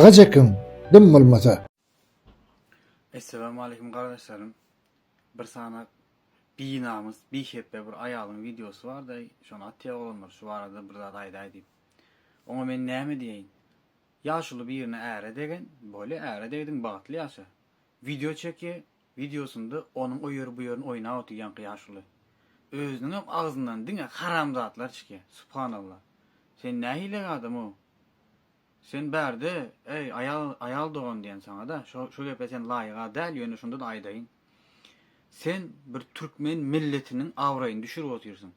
Aga çekiň dym bolmasa. Esselamu aleýkum gardaşlarym bir sany binamys bihepbe bir aýalyň wideosy barda şony atýa oglanlar şu barada bir zat aýdaý diýip oňa men näme diýeýin ýaşuly birine äre degen bolýa äre degdiň bagtly ýaşa wideo çekýä wideosynda onuň o ýeri bu ýerini oýnap otyrýaňky ýaşuly özüniňem agzyndan diňe haramzatlar çykýa subhanallah sen nähili adam ow. Sen bärde, eý, aýal, aýal dogan diýen saňa-da, şo, şo gepe sen laýyga däl, ýöne şonda-da aýdaýyn. Sen bir türkmen milletiniň abraýyny düşürip otyrsyň.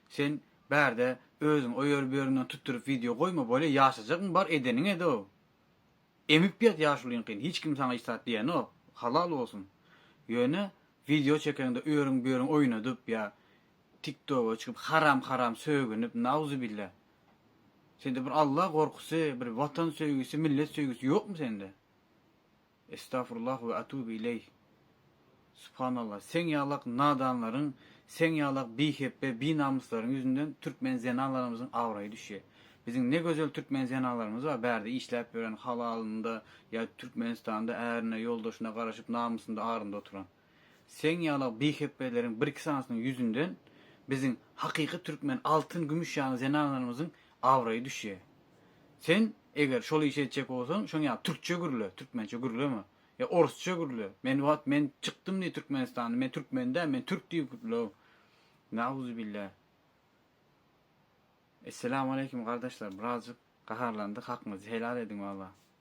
Sen bärde özüň o ýeri bu ýerinden tutduryp wideo goýma, bolýa ýaşajagyň bar, edeniň ed-ow. Emip ýat ýaşulyňkyny, hiç kim saňa hiç zat diýenok, halal bolsun. Ýöne wideo çekeňde o ýeriň bu ýeriň oýnadyp ýa TikToga çykyp haram-haram sögünip, nauzubillah. Sende bir Alla gorkusy, bir watan söýgüsi, millet söýgüsi ýokmy sende? Estafurullah we atubu ileyh. Subhanallah, seň ýalak nadanlaryň, seň ýalak bihepbe, binamyslaryň ýüzünden türkmen zenanlarymyzyň abraýy düşýär. Biziň ne gözel türkmen zenanlarymyz bar, bärde işläp ýören, halalynda ýa Türkmenistanda ärine, ýoldaşyna garaşyp, namysynda, arynda oturan. Seň ýala bihepbeleriň birki sanysynyň ýüzünden biziň hakyky türkmen altyn gümüş ýaly zenanlarymyzyň abraýy düşýä. Sen eger şol işi etjek bolsaň şoň ýaly türkçe gürle, türkmençe gürleme. Ýa orusça gürle, men wagt men çykdym diý türkmenistandan, men türkmen däl, men türk diýip gürle. Nauzubilla. Esselamu aleýkum gardaşlar birazjyk gaharlandyk hakyňyzy helal ediň walla.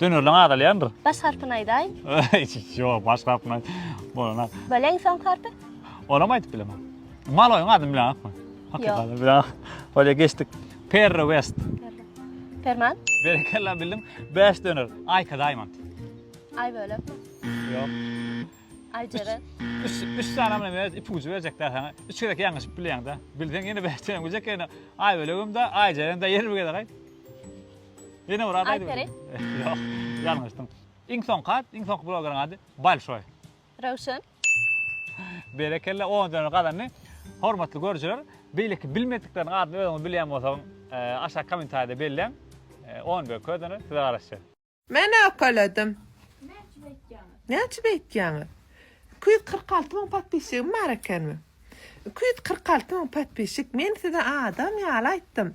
Dönerleň azalýandyr. Baş harpyny aýdaýyn. Ýok, baş harpyny aýt. Bolanak. Böleň soň harpy. Onam aýdyp bilemok. Maloýyň adyny bileňokmy? Hakykatdan bileňok. Bolýa geçdik. Perry West. Perman. Berekella bildim. Bäş döner. Aýka Diamond. Aý bölekmi? Ýok. Aý jere. Üç, üç sany bilen ber, ipi ucu berjek dä sana. Üç gezek ýalňyşyp bilýäň dä. Bilseň ýene bäş döner biljek ýene. Aý bölegim dä, aý jerem dä ýer bir gezek aýt. Ýene bir zat aýdyp ýörüň. Ýok, ýalňyşdyň. Iň soňky at, iň soňky blogeriň ady Balşoý. Röwşen. Berekella, on döner gazandy. Hormatly görüjiler, beýleki bilmedikleriň adyny özüňiz bilýän bolsaň, e, aşak kommentariýada belläň. E, on we kö döner size garaşýar. Men okaladym. Näçe beýtýäňiz? Näçe beýtýäňiz? Iki ýüz kyrk alty müň podpisçigim bar ekenmi? Iki ýüz kyrk alty müň podpisçik, men size adam ýaly aýtdym.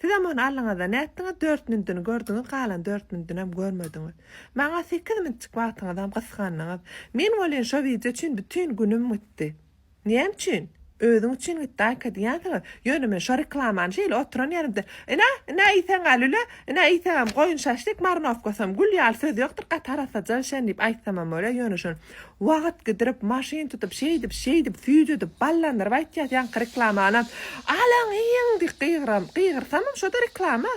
Sizem ony aldyňyz-da, nätdiňiz, dört mündüni gördüňiz, galan dört mündünem görmediňiz. Maňa sekiz müntjik wagtyňyzam gysgandyňyz. Men welin şo wideo üçin bütin günüm gitdi. Näme üçin? Özüň üçin gitdi, Aýka diýýänsiňiz. Ýöne men şo reklamany şeýle oturan ýerimde, Ine, ine iýseň-ä lüle, ine iýseňem goýun şaşlik, marynowkasam gül ýaly söz ýokdur, gaty arassa jal şen diýip aýtsamam bolýar, ýöne şony Wagt gidirip, maşyn tutup, şeýdip, şeýdip, süýjüdip, ballandyryp aýtýas ýaňky reklamanam. Alyň, iýiň diýip gygyram. Gygyrsamam şo-da reklama.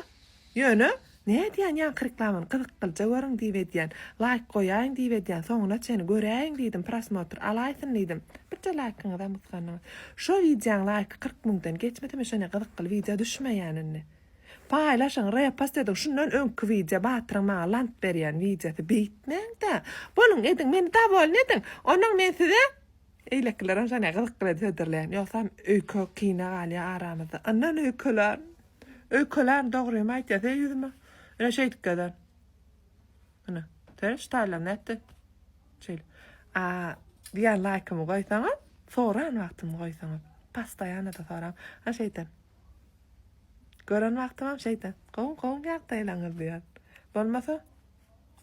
Ýöne, nädýän ýaňky reklamany gyzyklyja görüň diýip edýän, laýk goýaýyň diýip edýän, soňuna çenli göräýiň diýdim, prosmotr alaýsyn diýdim. Birje laýkyňyzam gysgandyňyz. Şo wideoň laýky kyrk müňden geçmese men şonda gyzykly wideo düşmeýän indi. Paýlaşyň repost ediň şundan öňki wideo batyryň maňa lant berýän wideosy beýtmäňdä boluň ediň meni dawolny ediň onuň men size eýlekilerem şonä gyzyk bilen hödürleýän ýogsam öýke kine galýa aramyzda ynnan öýkelän öýkelän dogrymy aýtýa se ýüzüme ine şeýdip gezen ine seniň ştaýlaň nätdi şeýle a diýän laýkymy goýsaňyz soran wagtymy goýsaňyz pastaýanada soraň a şeýden. Gören wagtymam şeýdip, gowy, gowy ýagdaýlaryňyz diýýän. Bolmasa,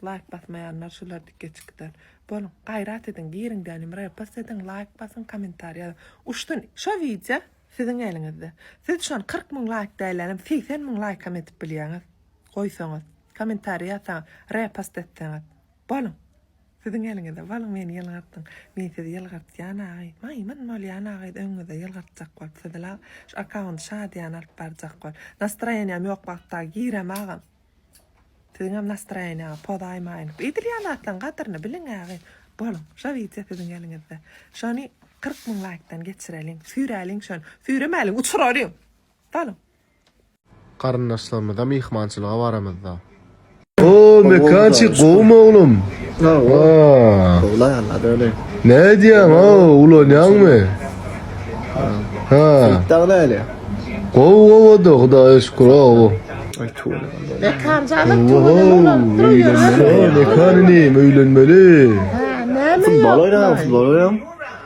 laýk basmaýanlar şular dikke çykdan. Boluň, gaýrat ediň, giriň gänim repost ediň, laýk basyň, kommentariý ýazyň. Uçdun, şo wideo siziň eliňizde. Siz şony kyrk müň laýk dällänem segsen müň laýkam edip bilýäňiz. Goýsaňyz, kommentariý ýazsaňyz, repost etseňiz. Boluň, Siziň eliňize boluň meni ýylgyrdyň men sizi ýylgyrtýan agy maýmyn bolýan agy öňüňizde ýylgyrtjak bolup sizi la şu akkaunty şadyýana alyp barjak bol nastroýeniýam ýok wagtda girem agam siziňem nastroýeniýaňa pozaýmaýyn eýdilýän zatlaň gadryny biliň agy boluň şo wideo siziň eliňizde şony kyrk müň laýkdan geçireliň süýräliň şony süýremäliň uçuralyň. Galyň. Garyndaşlarymyza myhmançylyga baramyzda. Hoo mekançik gowumy oglum. Hoo. Ne edýäň hoo ulanýaňmy. Hoo. Gowy gowyda hudaýa şükür hoo. Mekan jadyp tuweleme ulanyp durup ýörüň. Mekan inim öýlenmeli. Futbol oýnaýaň futbol oýnaýaň.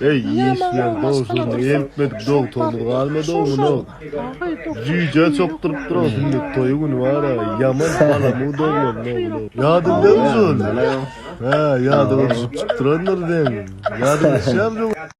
Eý işleň dowşanyny eltmedik dogtorymyz galmady oňuna jüýje çokduryp durasy indi toýy güni bara ýaman halamyň doglandy oňuna ýadyňdamy şol hä ýadyňa düşüp çykdyrandyr seň ýadyňa düşýämi